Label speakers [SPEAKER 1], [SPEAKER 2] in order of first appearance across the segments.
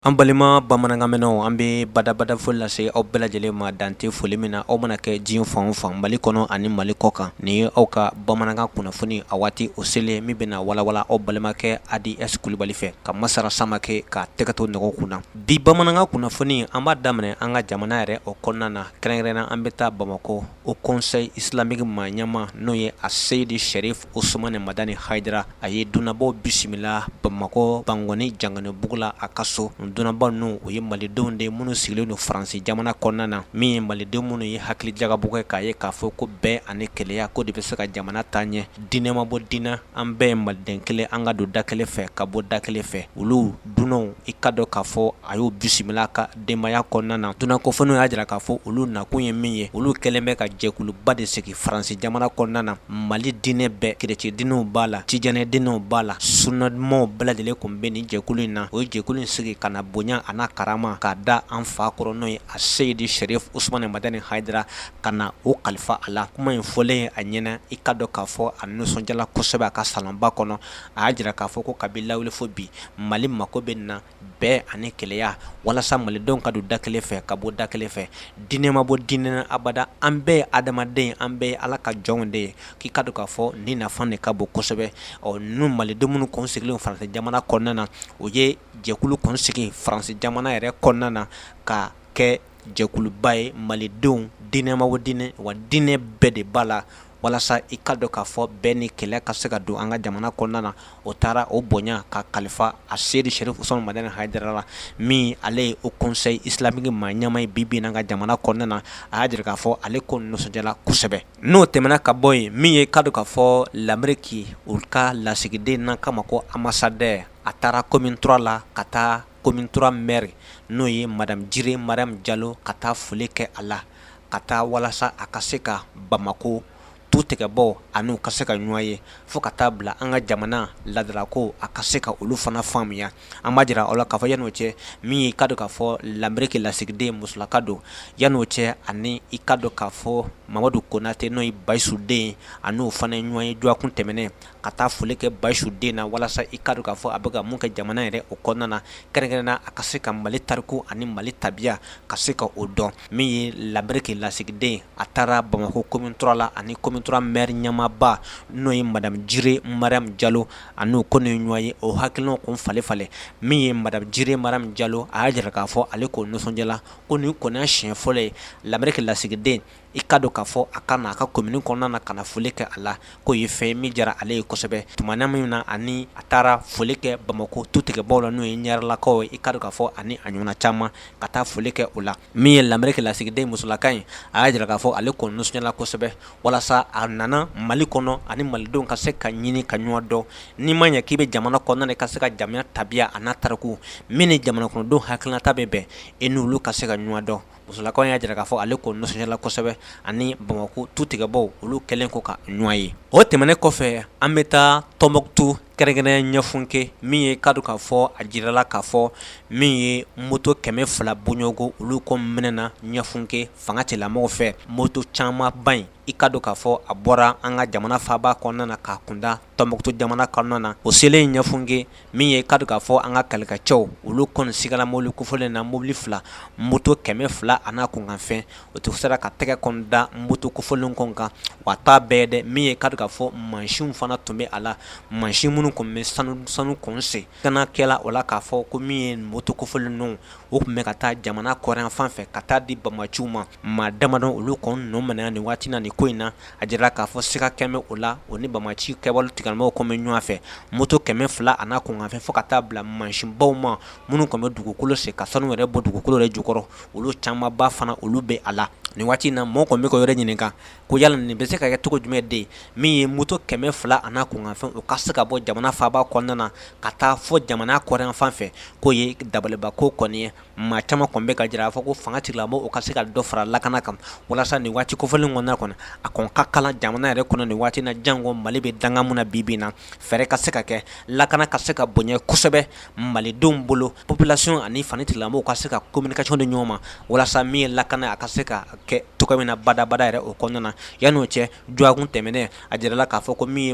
[SPEAKER 1] An balima bamanankanmɛnanw an bɛ badabada foli lase aw bɛɛ lajɛlen ma dan tɛ foli min na aw mana kɛ diɲɛ fan o fan mali kɔnɔ ani mali kɔ kan nin ye aw ka bamanankan kunnafoni a waati o selen min bɛna walawala aw balimakɛ adi es kulubali fɛ ka masara samakɛ ka tɛgɛ to nɛgɛw kun na bi bamanankan kunnafoni an b'a daminɛ an ka jamana yɛrɛ o kɔnɔna na kɛrɛnkɛrɛnna an bɛ taa bamakɔ haut conseil islamique maa ɲɛma n'o ye a seyidi sherif usumani madani hayidara a ye dunanbaw bisimila bamakɔ bankɔni janginɛbugu la a ka so dunanba ninnu u ye malidenw de minnu sigilen don faransi jamana kɔnɔna na min ye malidenw minnu ye hakili jagabɔ kɛ k'a ye k'a fɔ ko bɛn ani kelenya ko de bɛ se ka jamana taa ɲɛ diinɛ ma bɔ diinɛ an bɛɛ ye maliden kelen an ka don da kelen fɛ ka bɔ da kelen fɛ olu dunanw i ka dɔn k'a fɔ a y'o bisimila ka denbaya kɔnɔna na dunan kofɔlenw y'a jira k'a fɔ olu nakun ye min ye olu kɛlen bɛ ka jɛkuluba de sigi faransi jamana kɔnɔna na mali diinɛ bɛɛ kerecɛn diinɛw b'a la tijani diinɛw b'a la suna dumanw bɛɛ lajɛlen kun bɛ nin jɛkulu in na o ye jɛkulu in sigi ka na bonya ani karama k'a da an fa kɔrɔ n'o ye a seyidi sherif usumani madani hayidara ka na o kalifa a la kuma in fɔlen ye a ɲɛna i ka dɔn k'a fɔ a nisɔndiyala kosɛbɛ a ka salonba kɔnɔ a y'a jira k'a fɔ ko kabi lawale fo bi mali mako bɛ na bɛn ani kelenya walasa malidenw ka don da kelen fɛ ka bɔ da kelen fɛ diinɛ ma bɔ diinɛ na abada an bɛɛ ye adamaden an bɛɛ ye ala ka jɔnw de ye k'i ka dɔn k'a fɔ nin nafa de ka bon kosɛbɛ ɔ ninnu malidenw minnu kun sigilen faransi jamana kɔnɔna na o ye jɛkulu kun sigi faransi jamana yɛrɛ kɔnɔna na ka kɛ jɛkuluba ye malidenw diinɛ ma bɔ diinɛ wa diinɛ bɛɛ de b'a la walasa i ka dɔn k'a fɔ bɛn ni kelenya ka se ka don an ka jamana kɔnɔna na o taara o bonya ka kalifa a seyidi sherif usumani madani hayidara la min ale ye haut conseil islamique maa ɲɛma ye bi bi in na an ka jamana kɔnɔna na a y'a jira k'a fɔ ale kɔni nisɔndiyala kosɛbɛ n'o tɛmɛna ka bɔ yen min ye i ka dɔn k'a fɔ lameriki u ka lasigiden n'an k'a ma ko ambassadeur a taara commune trois la ka taa commune trois maire n'o ye madame jire mariyamu jalo ka taa foli kɛ a la ka taa walasa a ka se ka bamakɔ tutigɛbaw a n'u ka se ka ɲɔgɔn ye fo ka taa bila an ka jamana laadalako a ka se ka olu fana faamuya an b'a jira a la k'a fɔ yann'o cɛ min y'i ka dɔn k'a fɔ lameriki lasigiden musolaka don yann'o cɛ ani i ka dɔn k'a fɔ mamadu konatɛ n'o ye bayisu den a n'o fana ye ɲɔgɔn ye dɔgɔkun tɛmɛnen ka taa foli kɛ bayisu den na walasa i ka dɔn k'a fɔ a bɛ ka mun kɛ jamana yɛrɛ o kɔnɔna na kɛrɛnkɛrɛnna a ka se ka mali tariku ani mali tabiya ka se ka o dɔn min ye lameriki lasigiden a taara bamakɔ commune trois la ani commune trois maire ɲɛmaaba n'o ye madame jire mariyamu jalo a n'o kɔni ye ɲɔgɔn ye o hakilinaw kun falen falen min ye madame jire mariyamu jalo a y'a jira k'a fɔ ale kɔni nisɔndiyala ko nin kɔni y'a siɲɛ fɔlɔ ye lameriki lasigiden i ka dɔn k'a fɔ a ka na a ka commune kɔnɔna na ka na foli kɛ a la k'o ye fɛn min diyara ale ye kosɛbɛ tuma min na ani a taara foli kɛ bamakɔ tu tigɛbaw la n'o ye ɲarelakaw ye i ka dɔn k'a fɔ ani a ɲɔgɔnna caman ka taa foli kɛ o la min ye lameriki lasigiden musolaka in a y'a jira k'a fɔ ale kɔni nisɔndiyala kosɛbɛ walasa a nana mali kɔnɔ ani malidenw ka se ka ɲini ka ɲɔgɔn dɔn n'i ma ɲɛ k'i bɛ jamana kɔnɔna na ka se ka jamana tabiya a n'a tariku min ni jamana kɔnɔdenw hakilinata bɛ bɛn i n'olu ka se ka ɲɔgɔn dɔn musolaka o y'a jira k'a fɔ ale ko nisɔndiyala kosɛbɛ ani bamakɔ tu tigɛbaw olu kɛlen kɔ ka ɲɔgɔn ye o tɛmɛnen kɔfɛ an bɛ taa tɔnbukutu kɛrɛnkɛrɛnnen ɲafunke min ye ka dɔn k'a fɔ a jirala k'a fɔ min ye moto kɛmɛ fila bɔɲɔgɔnko olu kɔni minɛna ɲafunke fanga tigilamɔgɔw fɛ moto camanba in i ka dɔn k'a fɔ a bɔra an ka jamana faaba kɔnɔna na ka kunda tɔnbukutu jamana kɔnɔna na o selen ɲafunke min ye ka dɔn k'a fɔ an ka kɛlɛkɛcɛw olu kɔni sigala mobili kofɔlen na mobili fila moto kɛmɛ fila a n'a kunkanfɛn o tun sera ka tɛgɛ kɔni da moto kofɔlen kɔn kan wa t'a bɛɛ dɛ min ye ka dɔn k'a fɔ mansinw fana tun bɛ a la mansin minnu tun bɛ sanu sanu kɔn sen a kɛla o la k'a fɔ ko min ye moto kofɔlen ninnu o tun bɛ ka taa jamana kɔrɔn fan fɛ ka taa di bamaciw ma maa damadɔ olu kɔn nɔ minɛna nin waati na nin ko in na a jirala k'a fɔ siga kɛlen bɛ o la o ni bamaci kɛwale tigilamɔgɔw kɔn bɛ ɲɔgɔn fɛ moto kɛmɛ fila a n'a kunkanfɛn fo ka taa bila mansinbaw ma minnu tun bɛ dugukolo sen ka sanu yɛrɛ bɔ dugukolo yɛrɛ jukɔrɔ olu camanba fana olu bɛ a la nin waati in na mɔgɔ kɔni bɛ ka yɛrɛ ɲininka ko yala nin bɛ se ka kɛ cogo jumɛn de min ye moto kɛmɛ fila a n'a kunkanfɛn u ka se ka bɔ jamana faaba kɔnɔna na ka taa fo jamana kɔrɔn fan fɛ k'o ye dabalibanko kɔni ye maa caman kɔn bɛ ka jira a fɔ ko fanga tigilamɔgɔw o ka se ka dɔ fara lakana kan walasa nin waati kofɔlen kɔnɔna kɔnɔ a kɔn ka kalan jamana yɛrɛ kɔnɔ nin waati na janko mali bɛ dakun min na bi bi na fɛɛrɛ ka se ka kɛ lakana ka se ka bonya kosɛbɛ malidenw bolo populasiyɔn ani fanga tigilamɔgɔw ka se ka kominikasiyɔn di ɲɔgɔn ma walasa min ye lakana a ka se ka kɛ cogo min na badabada yɛrɛ o kɔnɔna na yann'o cɛ dɔgɔkun tɛmɛnen a jirala k'a fɔ ko min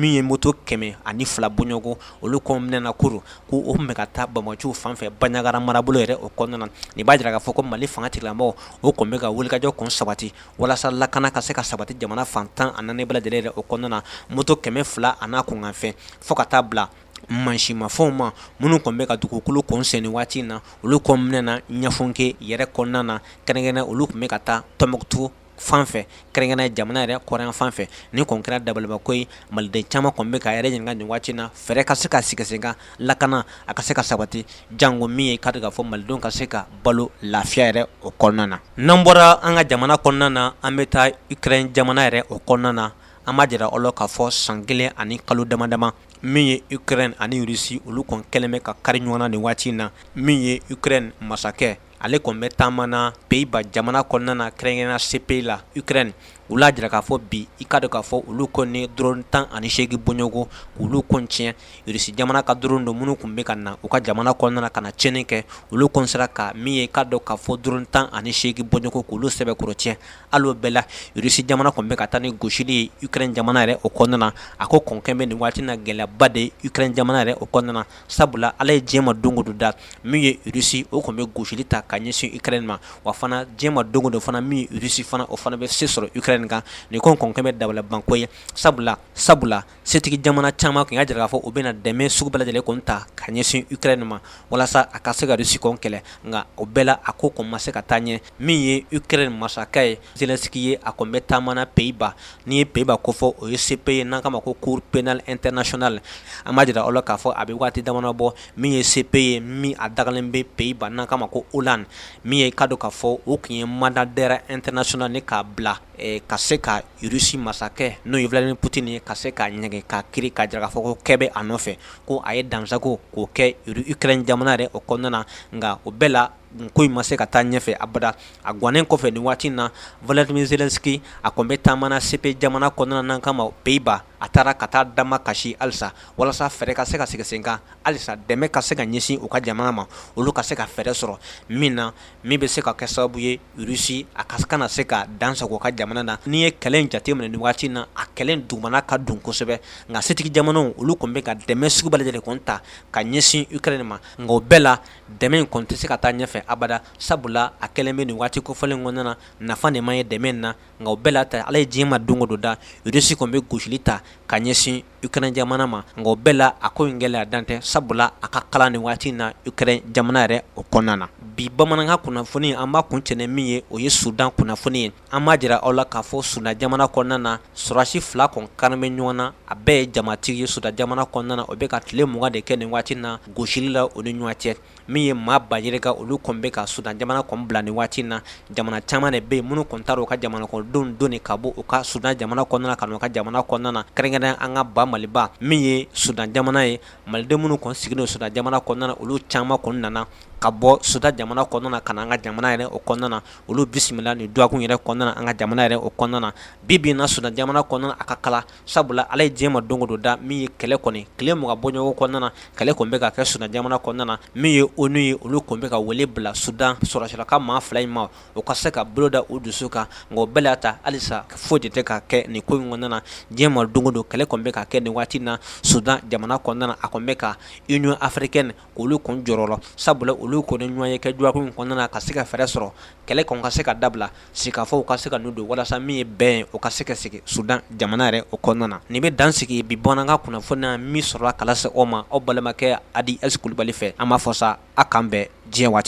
[SPEAKER 1] ye moto kɛmɛ ani fila bɔɲɔgɔnko olu kɔn minɛna kurun k'o tun bɛ ka taa bamaciw fan fɛ banjagara marabolo yɛrɛ o kɔnɔna na nin b'a jira k'a fɔ ko mali fanga tigilamɔgɔw o tun bɛ ka wulikajɔ kɔn sabati walasa lakana ka se ka sabati jamana fan tan ani naani bɛɛ lajɛlen yɛrɛ o kɔnɔna na moto kɛmɛ fila a n'a kunkanfɛn fo ka taa bila mansinmafɛnw ma minnu tun bɛ ka dugukolo kɔn sen nin waati in na olu kɔn minɛna ɲafunke yɛrɛ kɔnɔna na kɛrɛnkɛrɛnnen olu tun bɛ ka taa tɔnbukutu fan fɛ kɛrɛnkɛrɛnnen jamana yɛrɛ kɔrɔn fan fɛ nin kɔn kɛra dabalibanko ye maliden caman kɔn bɛ ka yɛrɛ ɲininka nin waati na fɛɛrɛ ka se ka sigi sen kan lakana a ka se ka sabati janko min ye ka dɔn k'a fɔ malidenw ka se ka balo lafiya yɛrɛ o kɔnɔna na n'an bɔra an ka jamana kɔnɔna na an bɛ taa ukrɛni jamana yɛrɛ o kɔnɔna na an b'a jira aw la k'a fɔ san kelen ani kalo dama dama min ye ukrɛni ani rusi olu kɔn kɛlen bɛ ka kari ɲɔgɔn na nin waati in na min ye ukrɛni masakɛ ale kɔni bɛ taama na Pays-Bas jamana kɔnɔna na kɛrɛnkɛrɛnnenya la CPI la Ukraine olu y'a jira k'a fɔ bi i ka dɔn k'a fɔ olu kɔni ye drone 18 bɔɲɔgɔn k'olu kɔni tiɲɛ Russie jamana ka drone don minnu tun bɛ ka na u ka jamana kɔnɔna na ka na tiɲɛni kɛ olu kɔni sera ka min ye i ka dɔn k'a fɔ drone 18 bɔɲɔgɔn k'olu sɛbɛkɔrɔ tiɲɛ hali o bɛɛ la Russie jamana kɔni bɛ ka taa ni gosili ye Ukraine jamana yɛrɛ o kɔnɔna na a ko kɔni kɛlen bɛ nin waati in na gɛlɛyaba de ye Ukraine jamana yɛrɛ o kɔnɔna na sabula ala ye diɲɛ ma don o don da min ye Russie o kɔn bɛ gosili ta ka ɲɛsin Ukraine ma wa fana diɲɛ ma don o don fana min ye Russie fana o fana bɛ se sɔrɔ Ukraine kan nin ko kɔn kɛlen bɛ dabalibanko ye sabula sabula setigi jamana caman tun y'a jira k'a fɔ u bɛna dɛmɛ sugu bɛɛ lajɛlen kɔn ta ka ɲɛsin Ukraine ma walasa a ka se ka Russie kɔn kɛlɛ nka o bɛɛ la a ko kɔn ma se ka taa ɲɛ min ye Ukraine masakɛ ye Zelensky ye a kɔn bɛ taama na Pays-Bas n'i ye Pays-Bas ko fɔ o ye CPI ye n'an k'a ma ko Cour pénale internationale an b'a jira aw la k'a fɔ a bɛ waati damadɔ bɔ min ye CPI ye min a dagalen bɛ Pays-Bas n'an k'a ma ko Hollande min ye i ka dɔn k'a fɔ o tun ye mandat d'arrêt international ni k'a bila ka se ka Russie masakɛ n'o ye Vladimir Poutine ye ka se k'a ɲɛgɛn k'a kiri k'a jira k'a fɔ ko kɛ bɛ a nɔfɛ ko a ye dansago ko kɛ Ukraine jamana yɛrɛ o kɔnɔna na nka o bɛɛ la ko in ma se ka taa ɲɛfɛ abada a gannen kɔfɛ nin waati in na Volodymyr Zelensky a kɔni bɛ taama na CPI jamana kɔnɔna na n'an k'a ma Pays-Bas a taara ka taa damakasi halisa walasa fɛɛrɛ ka se ka sigi senkan halisa dɛmɛ ka se ka ɲɛsin u ka jamana ma olu ka se ka fɛɛrɛ sɔrɔ min na min bɛ se ka kɛ sababu ye Russie a ka kana se ka dan sago u ka jamana na n'i ye kɛlɛ in jateminɛ nin waati in na a kɛlɛ in dugumana ka dun kosɛbɛ nka setigi jamanaw olu kɔni bɛ ka dɛmɛ sugu bɛɛ lajɛlen kɔni ta ka ɲɛsin Ukraine ma nka o bɛɛ la dɛmɛ in kɔni tɛ se ka taa ɲɛfɛ abada sabula a kɛlen bɛ nin waati kofɔlen kɔnɔna na nafa de ma ye dɛmɛ in na nka o bɛɛ la ta Ala ye diɲɛ ma don o don da Russie kɔni bɛ gosili ta ka ɲɛsin Ukraine jamana ma nka o bɛɛ la a ko in gɛlɛya dan tɛ sabula a ka kalan nin waati in na Ukraine jamana yɛrɛ o kɔnɔna na bi bamanankan kunnafoni an b'a kuncɛ ni min ye o ye Sudan kunnafoni ye an b'a jira aw la k'a fɔ Sudan jamana kɔnɔna na sɔrɔdasi fila kɔn karilen bɛ ɲɔgɔn na a bɛɛ ye jamatigi ye Sudan jamana kɔnɔna na o bɛ ka tile mugan de kɛ nin waati na gosili la u ni ɲɔgɔn cɛ min ye maa ba yirika olu kɔn bɛ ka Sudan jamana kɔn bila nin waati na jamana caman de bɛ yen minnu kɔn taara u ka jamana kɔnɔdenw doni ka bɔ u ka Sudan jamana kɔnɔna na ka na u ka jamana kɔnɔna na kɛrɛnkɛrɛnnen an ka ba Maliba min ye Sudan jamana ye maliden minnu kɔn sigilen Sudan jamana kɔnɔna na olu caman kɔn nana ka bɔ Sudan jamana kɔnɔna na ka na an ka jamana yɛrɛ o kɔnɔna na olu bisimila nin dɔgɔkun yɛrɛ kɔnɔna na an ka jamana yɛrɛ o kɔnɔna na bi bi in na Sudan jamana kɔnɔna na a ka kalan sabula ala ye diɲɛ ma don o don da min ye kɛlɛ kɔni tile mugan bɔɲɔgɔn kɔnɔna na kɛlɛ kɔni bɛ ka kɛ Sudan jamana kɔnɔna na min ye ONU ye olu tun bɛ ka wele bila Sudan sɔrɔsira ka maa fila in ma u ka se ka bolo da u dusu kan nka o bɛɛ la ta halisa foyi de tɛ ka kɛ nin ko in kɔnɔna na diɲɛ ma don o don kɛlɛ kɔni bɛ ka kɛ nin waati na Sudan jamana kɔnɔna na a tun bɛ ka Union africaine olu kɔni jɔrɔla sabula olu kɔni ɲɔgɔnye kɛ dɔgɔkun in kɔnɔna na ka se ka fɛɛrɛ sɔrɔ kɛlɛ kɔni ka se ka dabila sigikafɔw ka se ka don walasa min ye bɛn ye o ka se ka segin sudan jamana yɛrɛ o kɔnɔna na nin bɛ dan sigi bi bamanankan kunnafoni na min sɔrɔla ka lase aw ma aw balimakɛ adi ɛsi kulubali fɛ an b'a fɔ sa aw k'an bɛn diɲɛ waati